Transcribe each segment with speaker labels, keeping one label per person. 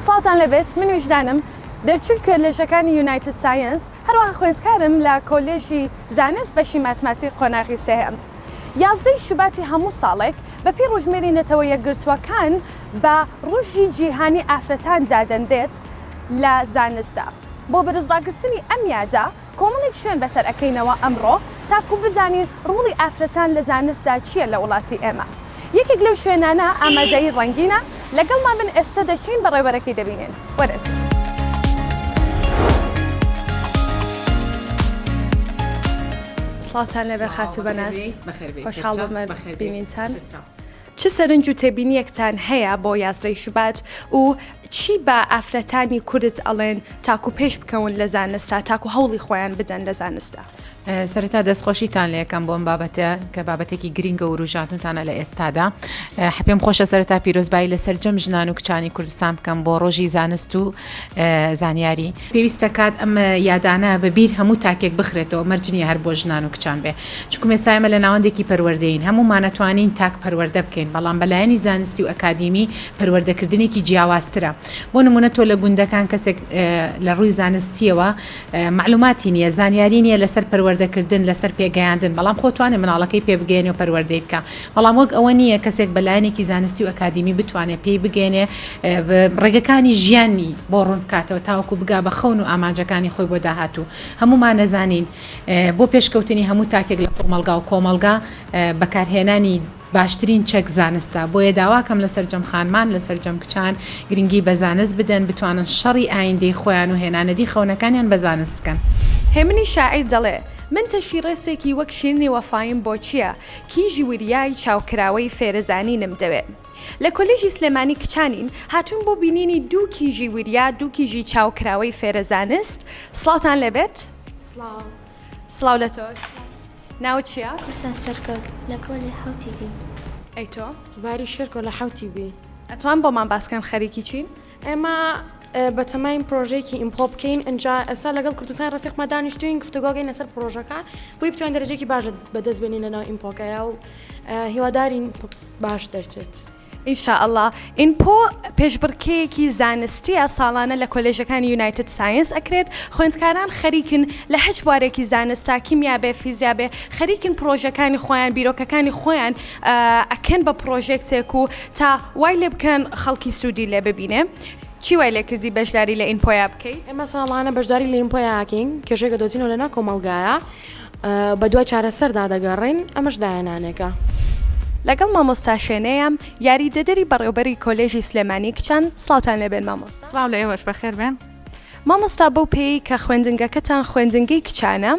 Speaker 1: سڵاوتان لێبێت من ویژدانم دەرچووی کوێلێژەکانی یونایتد سایەنس هەروەها خوێندکارم لە کۆلێژی زانست بەشی ماتماتیک قۆناغی سێهەم یازدە ی شوباتی هەموو ساڵێک بەپێی ڕوژمێری نەتەوە یەکگرتووەکان بە ڕوژی جیهانی ئافرەتان دادەنرێت لە زانستدا بۆ بەرز ڕاگرتنی ئەم یادە کۆمەڵێک شوێن بەسەر ئەکەینەوە ئەمڕۆ تاکو بزانین ڕۆڵی ئافرەتان لە زانستدا چیە لە وڵاتی ئێمە یەکێک لەو شوێنانە ئامادەیی ڕەنگینە لەگەڵمان بن ئێستە دەچین بەڕێوەرەکەی دەبینین وەرن. سڵاوتان لێبێت خاتوو بەناز خۆشحاڵ بووم بە بینینتان. چ سەرنج و تێبینیەکتان هەیە بۆ یازدەی شوبات و چی بە ئافرەتانی کورد ئەڵێن تاکو پێش بکەون لە زانستا تاکو هەوڵی خۆیان بدەن لە زانستا؟ سەرەتا
Speaker 2: دەستخۆشیتان لەکەم بۆم بابەتە کە بابەتێکی گرنگە وروژاتونتانە لە ئێستادا حپێم خۆشە سەرەتا پیرۆزبایی لە سەررجەم ژنان و کچانی کوردستان بکەم بۆ ڕۆژی زانست و زانیاری پێویست دەکات ئەم یادانە بە بیر هەموو تاکێک بخرێتەوە، مەرج نییە هەر بۆ ژنان و کچان بێ، چونکوم ئێستا ئێمە لە ناوەندێکی پەروەردەیین، هەموومان ئەتوانین تاک پەروەردە بکەین، بەڵام بە لایەنی زانستی و ئەکادیمی پەروەردەکردنێکی جیاوازترە، بۆ نموونە تۆ لە گوندەکان کەسێک لە ڕووی زانستییەوە مەعلووماتی نییە، زانیاری نییە لەسەر پەروەردەکردن، لەسەر پێگەیاندن، بەڵام خۆ توانێ مناڵەکەی پێ بگەیەنێ و پەروەردەی بکا، بەڵام وەک ئەوە نییە کەسێک بە لایەنێکی زانستی و ئەکادیمی بتوانێت پێی بگەیەنێ ڕێگەکانی ژیانی بۆ ڕوون بکاتەوە تاوەکو بگا بە خەون و ئامانجەکانی خۆی بۆ داهاتوو هەموومان نەزانین بۆ پێشکەوتنی هەموو تاکێک لە کۆمەڵگا و کۆمەڵگا بەکارهێنانی باشترین چەک زانستە بۆیە داواکەم لە سەرجەم خانمان لە سەرجەم کچان گرنگی بە زانست بدەن بتوانن شەڕی ئایندەی خۆیان و هێنانەدی خەونەکانیان بە زانست بکەن. هێمنی شاعیر
Speaker 1: دەڵێ، من تەشی ڕێسێکی وەک شیرنی وەفایم بۆ چییە؟ کیژی وریای چاوکراوەی فێرزانینم دەوێ. لە کۆلیژی سلێمانی کچانین، هاتووین بۆ بینینی دوو کیژی وریا، دوو کیژی چاوکراوەی فێرەزانست، سڵاوتان لێ بێت. سڵاو. سڵاو لە تۆش. ناوت چییە؟ قورسان سەرکەوت.
Speaker 3: لە پۆلی حەوتی بیم. ئەی تۆ؟
Speaker 1: باری شێرکۆ لە
Speaker 4: حەوتی بی. ئەتوان بۆمان باس
Speaker 1: کەن خەریکی چین؟ ئێمە
Speaker 4: بەتەماین پرۆژەیەکی ئیمپۆ بکەین ئەجا ئێستا لەگەڵ کوردستان ڕفیقمە دانیشتوین گفتوگۆگەین لەسەر پرۆژەکە بۆی بتوان دەرەجێکی باش بەدەست بێنین لەناو ئیمپۆکەیە و هیوادارین باش دەرچێت. ئینشائەڵا
Speaker 1: ئینپۆ پێشبڕکێیەکی زانستییە ساڵانە لە کۆلێژەکانی یونایتد ساینس ئەکرێت خوێندکاران خەریکن لە هەچ بوارێکی زانستا کیمیا بێ فیزیا بێ خەریکن پڕۆژەکانی خۆیان بیرۆکەکانی خۆیان ئەکەن بە پڕۆژێکتێک و تا وای لێ بکەن خەڵکی سوودی لێ ببینێ چی وای لێ کردی بەشداری لە ئینپۆیا بکەیت ئێمە ساڵانە بەشداری
Speaker 4: لە ئینپۆیاکەین کێشێکە دۆزینەوە لە ناکۆمەڵگایە بە دوای چارەسەردا دەگەڕین ئەمەش داهێنانێکە. لەگەڵ
Speaker 1: مامۆستا شێنێیام یاریدەدەری بەڕێوبەری کۆلێژی سلێمانی کچان سڵاوتان لێبێن مامۆستا. سڵاو لە ئێوەش بەخێربێن.
Speaker 2: مامۆستا بەو
Speaker 1: پێیەی کە خوێندنگەکەتان خوێندنگەی کچانە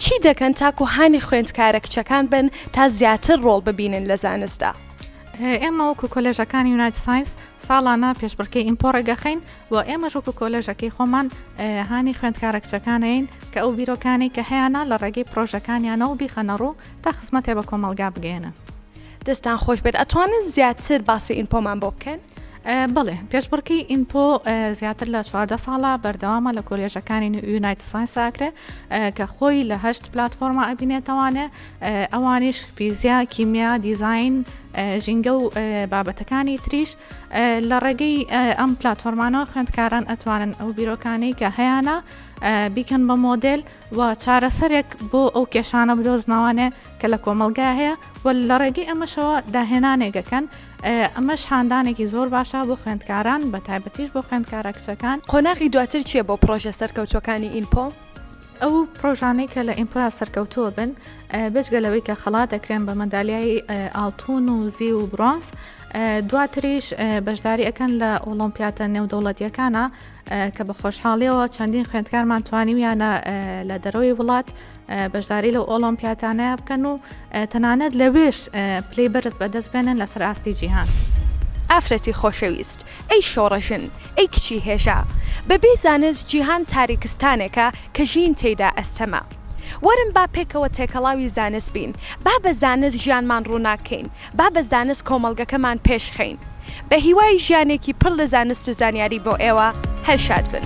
Speaker 1: چی دەکەن تاکو هانی خوێندکارە کچەکان بن تا زیاتر ڕۆڵ ببینن لە زانستدا ئێمە
Speaker 5: وەکو کۆلێژەکانی یونایت ساینس ساڵانە پێشبڕکەی ئیمپۆڕێگەخین و ئێمەش وەکو کۆلێژەکەی خۆمان هانی خوێندکارە کچەکانین کە ئەو بیرۆکانی کە هەیەە لە ڕێگەی پرۆژەکانیانەوە بیخەنە ڕوو تا خزمەتێ بە کۆمەلگا بگەێنن. دەستان خۆش
Speaker 1: بێت ئەتوانن زیاتر باسی ئینپۆمان بۆ بکەن بڵێ
Speaker 5: پێشبڕکەی ئینپۆ زیاتر لە چواردە ساڵە بەردەوامە لە کۆلێژەکانی یونایت ساینساکرێ کە خۆی لە هەشت پلتفۆرمە ئەبینێتەوانێ ئەوانیش فیزیا کیمیا دیزین ژینگە و بابەتەکانی تریش لە ڕێگەی ئەم پلتفۆرمانەوە خوێندکاران ئەتوانن ئەو بیرۆکانەی کە هەیەە بیکەن بە مۆدل و چارەسەرێک بۆ ئەو کێشانە بدۆزنەوانێ کە لە کۆمەڵگا هەیە و لە ڕێگەی ئەمەشەوە داهێنانێک ئەکەن ئەمەش هاندانێکی زۆر باشە بۆ خوێندکاران بە تایبەتیش بۆ خوێندکارە کچەکان قۆناغی دواتر چییە
Speaker 1: بۆ پڕۆژە سەرکەوتووەکانی ئینپۆ؟ ئەو
Speaker 5: پرۆژانەی کە لە ئیمپۆیا سەرکەوتووە بن بێجگە لەوەی کە خەڵات دەکرێن بە مەندالیای ئاڵتون و زی و برۆنس دواتریش بەشداری ئەەکەن لە ئۆلۆمپیاتە نێودەوڵەتیەکانە کە بە خۆشحاڵیەوە چەندین خوێندکارمان توانیویانە لە دەرەوەی وڵات بەشداری لەو ئۆڵۆمپیاتانەیە بکەن و تەنانەت لەوێش پلەی بەرز بەدەست بێنن لەسەر ئاستی جیهان. ئافرەتی
Speaker 1: خۆشەویست، ئەی شۆڕەژن، ئەی کچی هێژا، بەبێ زانست جیهان تاریکستانێکە کە ژین تێیدا ئەستەمە. وەرن با پێکەوە تێکەڵاوی زانست بین، با بە زانست ژیانمان ڕووناک کەین، با بە زانست کۆمەڵگەکەمان پێش خەین. بە هیوای ژیانێکی پڕ لە زانست و زانیاری بۆ ئێوە، هەر شاد بن.